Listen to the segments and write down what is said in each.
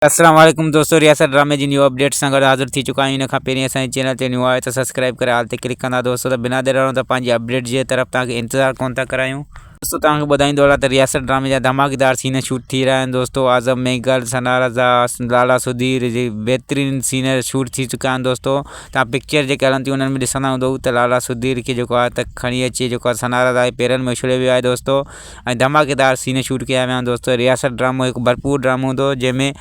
اسلام عليڪم دوستو رياست ڊرامي جي نيو اپڊيٽ سان گڏ حاضر ٿي چڪا آهيون ان کان پهرين اسان جي چينل تي نيو آهيو ته سبسڪرائيب ڪري آل تي ڪلڪ ڪندا دوستو ته بنا دير ڊاڻو ته پنهنجي اپڊيٽ جي طرف توهان کي انتظار ڪونه ٿا ڪرايون دوستو توهان کي ٻڌائيندو هلان ته رياست ڊرامي جا ڌماڪيدار سين شوٽ ٿي رهيا آهن دوستو اعظم ميگل ثنا رضا لالا سڌير جي بهترين سين شوٽ ٿي چڪا آهن دوستو توهان پڪچر جيڪي هلن ٿيون انهن ۾ ڏسندا هوندؤ ته لالا سڌير کي جيڪو آهي ته کڻي اچي جيڪو آهي ثنا رضا جي پيرن ۾ اڇليو ويو آهي دوستو ۽ ڌماڪيدار سين شوٽ ڪيا ويا آھن دوستو رياست ڊرامو ھڪ ڀرپور ڊرامو ھوندو جنھن ۾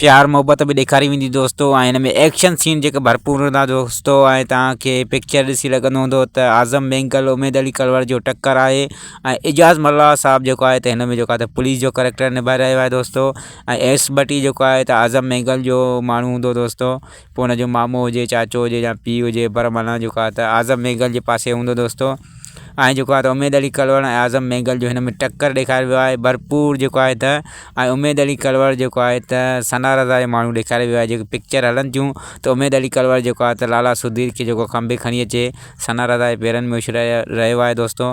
پيار محبت به ڏيکاري ويندي دوستو ۽ ھن ۾ ايڪشن سين جيڪي ڀرپور ھوندا دوستو ۽ توھان کي پڪچر ڏسي لڳندو ھوندو ته اعظم مينگل اميد علي ڪلوڙ جو ٽڪر آھي ۽ اعجاز ملاح صاحب جيڪو آھي ته ھن ۾ جيڪو آھي ته پوليس جو ڪريڪٽر نڀائي رھيو آھي دوستو ۽ ايس ڀٽي جيڪو آھي ته اعظم مينگل جو ماڻھو ھوندو دوستو پوء ان جو مامو هجي چاچو هجي يا پيء هجي پر معنيٰ جيڪو آهي ته اعظم ميگل جي پاسي هوندو دوستو ۽ جيڪو آهي ته اميد علي ڪلوڙ ۽ اعظم ميگل جو هن ۾ ٽڪر ڏيکاري ويو آهي ڀرپور جيڪو آهي ته ۽ اميد علي ڪلوڙ جيڪو آهي ته ثنا رضا جو ماڻهو ڏيکاري ويو آهي جيڪي پڪچر هلن ٿيون ته اميد علي ڪلوڙ جيڪو آهي ته لالا سڌير کي جيڪو کمڀي کڻي اچي ثنا رضا جي پيرن ۾ اڇلائي رهيو آهي دوستو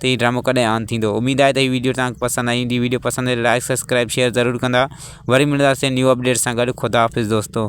ته هي ڊرامو ڪڏهن آن ٿيندو اميد آهي ته هي ويڊيو تهانکي پسند آئي هوندي ويڊيو پسند آئي لائڪ سبسڪرائب شيئر ضرور ڪندا وري ملنداسين نيو اپڊيٽ سان گڏ خداحافظ دوستو